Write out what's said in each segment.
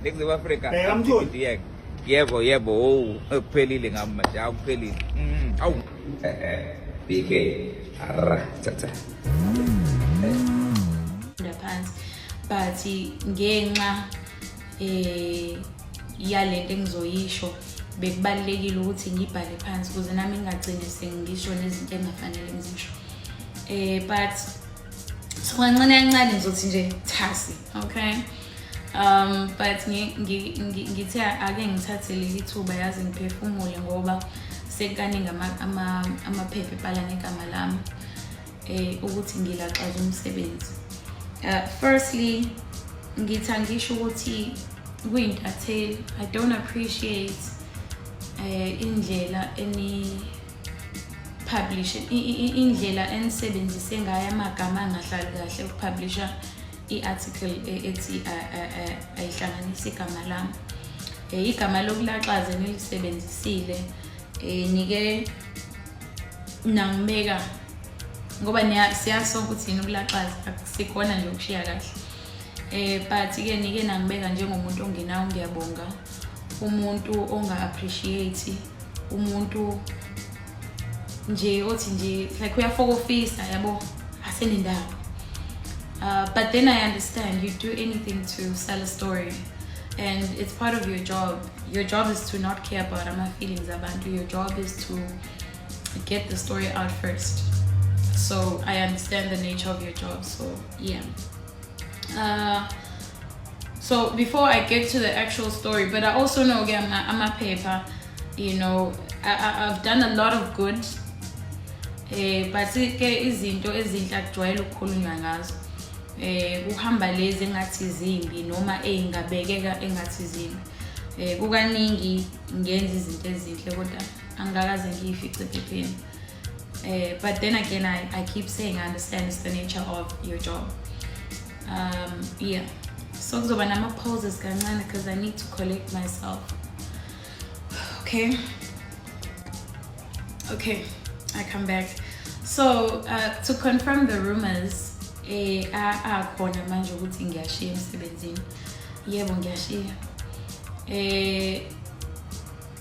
Ningizimu Afrika. Bheka mtholi. Yebo yebo owu kuphelile ngami manje akuphelile. Mm, awu. BK. Arra cha cha. Phansi but ngenxa eh yalento engizoyisho bekubalekile ukuthi ngibhale phansi ukuze nami ngingagcini sengisho nezinto engafanele ngizisho eh but so kancane kancane ngizothi nje thasi okay um but ngithe ake ngithathe leli thuba yazi ngiphefumule ngoba sekukaningi amaphepha ebhala ngegama lami um ukuthi ngilaxaza umsebenzi uh, firstly ngithi angisho ukuthi kuyintatheli i don't appreciate um indlela publisher indlela enisebenzise ngayo amagama angahlali kahle ukupublisha i-article e-, ethi ayihlanganisi igama lami um igama lokulaxaze nilisebenzisile um nike nangibeka ngoba siyazi sonke ukuthi yini ukulaxaza akusikhona nje ukushiya kahle um but-ke nike nangibeka njengomuntu ongenawo ngiyabonga umuntu onga-appreciate umuntu nje othi nje like uyafokofisa yabo asenendawo uh, but then i understand you do anything to sell a story and it's part of your job your job is to not care about my feelings abantu your job is to get the story out first so i understand the nature of your job so yeah Uh, so before I get to the actual story, but I also know again I'm a paper, you know, I, I, have done a lot of good. Eh but ke izinto ezinhle akujwayele ukukhulunywa ngazo. Eh kuhamba lezi engathi zimbi noma ezingabekeka engathi zimbi. Eh kukaningi ngenza izinto ezinhle kodwa angikaze ngiyifice phepheni. Uh, but then again, I, I keep saying I understand it's the nature of your job. Um, yeah. So kuzoba nama pauses kancane because I need to collect myself. Okay. Okay, I come back. So uh, to confirm the rumors, eh akhona manje ukuthi ngiyashiya emsebenzini. Yebo ngiyashiya. Eh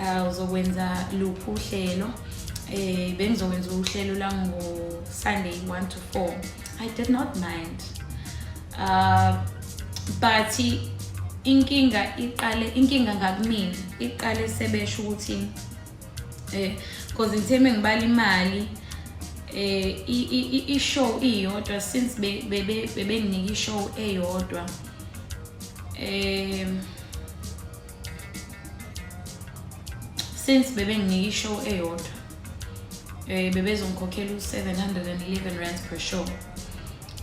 uh, uzokwenza luphi uhlelo eh bengizokwenza uhlelo la ngo Sunday 1 to 4 i did not mind uh but inkinga iqale inkinga ngakumina iqale sebesho ukuthi eh because ngithe mengibala imali eh i-show iyodwa since bebenginika i-show eyodwa um since bebenginika ishow eyodwa eh bebezongikhokhela u711 rand per show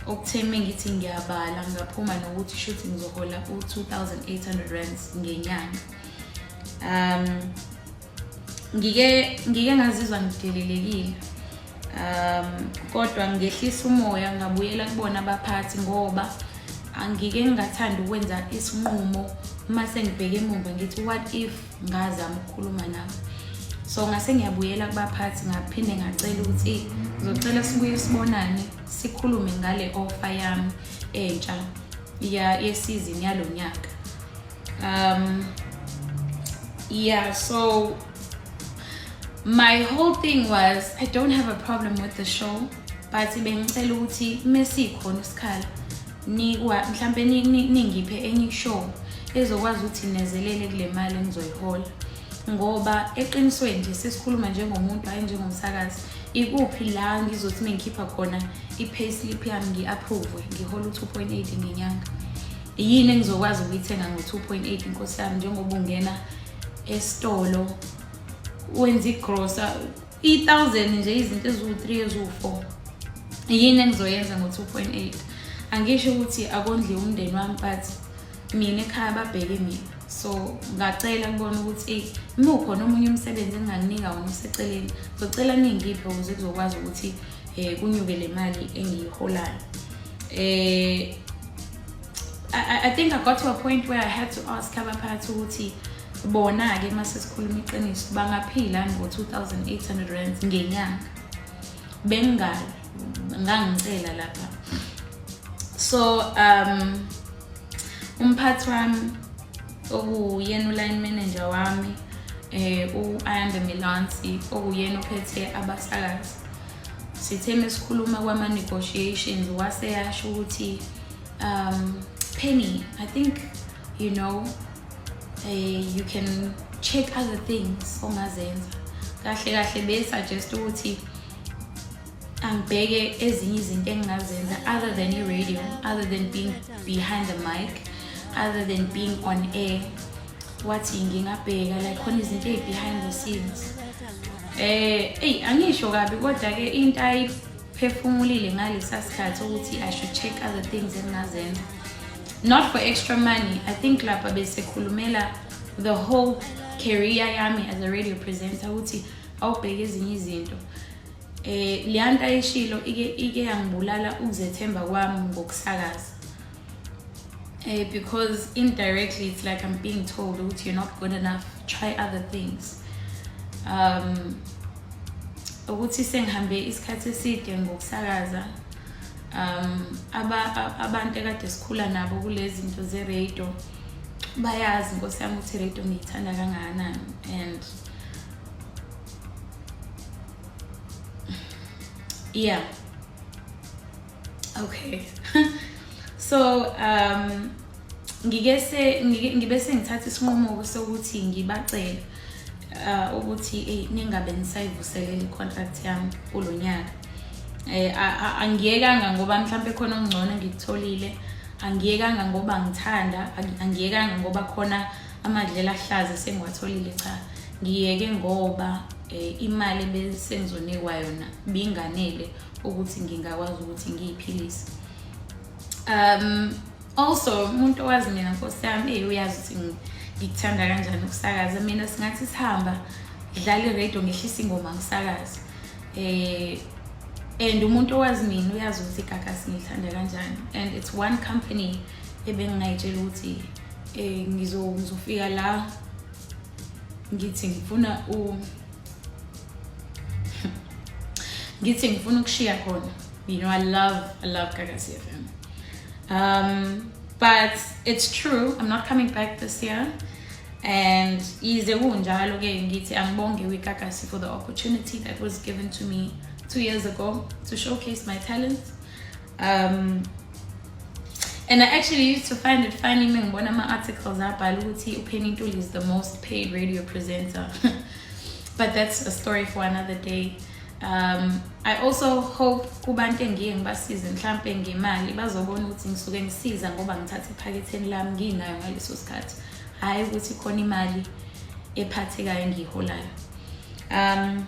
okutheme ngithi ngiyabala ngaphuma nokuthi shuthi ngizohola u2800 rand ngenyanga um ngike ngike ngazizwa ngidelelekile um kodwa ngehlisa umoya ngabuyela kubona abaphathi ngoba angike ngingathanda ukwenza isinqumo uma sengibheke emumva ngithi what if ngazama ukukhuluma nabo so ngase ngiyabuyela kubaphathi ngaphinde ngacela ukuthi ngizocela sibuye sibonane sikhulume ngale offer yami entsha yesizini yalo nyaka um yeah so my whole thing was i don't have a problem with the show but bengicela ukuthi mesikhona isikhala nikwa mhlambe ningiphe enye show ezokwazi ukuthi nezelele kule mali engizoyihola ngoba eqinisweni nje sesikhuluma njengomuntu hayi njengomsakazi ikuphi la ngizothi mengikhipha khona i-payslip yami ngi-approve ngihole u-2.8 ngenyanga yini engizokwazi ukuyithenga ngo-2.8 inkosi yami njengoba ungena esitolo wenza igrosa i-thousand nje izinto eziwu-three eziwu-four yini engizoyenza ngo-2.8 angisho ukuthi akondliwe umndeni wami but mina ekhaya babheke mina so ngacela kubona ukuthi eyi uma ukhona omunye umsebenzi engingakunika wona useceleni ngizocela ningiphe ukuze kuzokwazi ukuthi um kunyuke le mali engiyiholayo um I, I think I got to a point where I had to ask abaphathi ukuthi bona-ke uma sesikhuluma iqiniso bangaphila ngo-2800 rands ngenyanga bengingayo ngangicela lapha so um umphathi wami okuyena uline manager wami eh u-ayanda milansi okuyena ophethe abasakazi sithe mesikhuluma kwama negotiations wase yasho ukuthi um penny i think you know uh, you can check other things ongazenza kahle kahle be suggest ukuthi angibheke ezinye izinto engingazenza other than i-radio other than being behind the mic other than being on air wathi ngingabheka like khona izinto ezibehind the scenes eh eyi angisho kabi kodwa ke into ayiphefumulile ngalesa sikhathi ukuthi i should check other things engingazenza not for extra money i think lapha besekhulumela the whole career yami as a radio presenter ukuthi awubheke ezinye izinto eh leyanto ayishilo ike ike yangibulala ukuzethemba kwami ngokusakaza Eh, because indirectly it's like I'm being told ukuthi you're not good enough try other things um ukuthi sengihambe isikhathi eside ngokusakaza um abantu ekade sikhula nabo kulezi zinto ze-radio bayazi nkosi yami ukuthi i-radio ngiyithanda kangakanani and yeah okay so um ngike se ngibe sengithatha isinqumo sokuthi ngibacele uh, ukuthi hey ningabe nisayivuselela icontract yami kulonyaka eh angiyekanga ngoba mhlambe khona ongcono ngikutholile angiyekanga ngoba ngithanda angiyekanga ngoba khona amadlela ahlaza sengiwatholile cha ngiyeke ngoba eh, imali ebesengizonikwa yona binganele ukuthi ngingakwazi ukuthi ngiyiphilise um also umuntu owazi mina nkosi yami eyi uyazi ukuthi ngikuthanda kanjani ukusakaza mina singathi sihamba ngidlala iradio ngehlisa ingoma ngisakaza eh and umuntu owazi mina uyazi ukuthi igagasi ngilithanda kanjani and it's one company ebengingayitshela ukuthi um ngizofika la ngithi ngifuna ngithi ngifuna ukushiya khona you know i love i love gagasi fm um, but it's true i'm not coming back this year and yize kunjalo ke ngithi angibonge kwikagasi for the opportunity that was given to me two years ago to showcase my talents um and i actually used to find it funny mengibona ama-articles abhala ukuthi upenny ntuli is the most paid radio presenter but that's a story for another day um, i also hope kubantu engiye ngibasize mhlampe ngemali bazobona ukuthi ngisuke ngisiza ngoba ngithatha ephaketheni lami nginayo ngaleso sikhathi hhayi ukuthi khona imali ephathekayo engiyiholayo um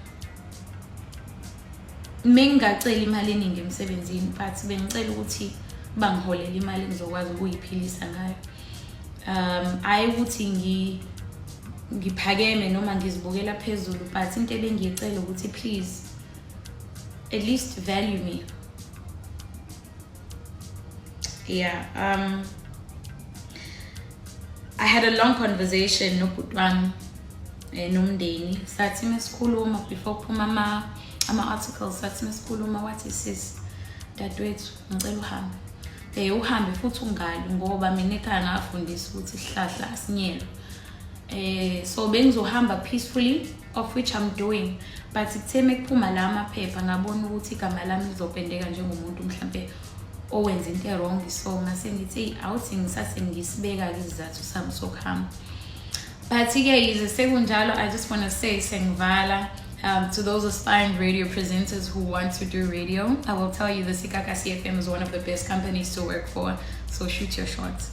mengingaceli imali eningi emsebenzini but bengicela ukuthi bangiholele imali engizokwazi ukuyiphilisa ngayo um ayi ukuthi ngi ngiphakeme noma ngizibukela phezulu but into ebengiyicela ukuthi please at least value me yeah um i had a long conversation nobhuti wami eh, nomndeni sathi mesikhuluma before kuphuma ama ama-articles sathi mesikhuluma wathi sis dadewethu ngicela uhambe um uhambe futhi ungali ngoba mina ekhaya ngafundisa ukuthi sihlahla asinyelwe um so bengizohamba peacefully of which I'm doing but kuthe mekuphuma la amaphepha ngabona ukuthi igama lami lizopendeka njengomuntu mhlampe owenza into ewrong so ngase ngithi eyi awuthi ngisase ngisibeka-ke isizathu sami sokuhamba but-ke yize sekunjalo i just want to say sengivala um, to those aspiring radio presenters who want to do radio i will tell you the sikaka cfm is one of the best companies to work for so shoot your shots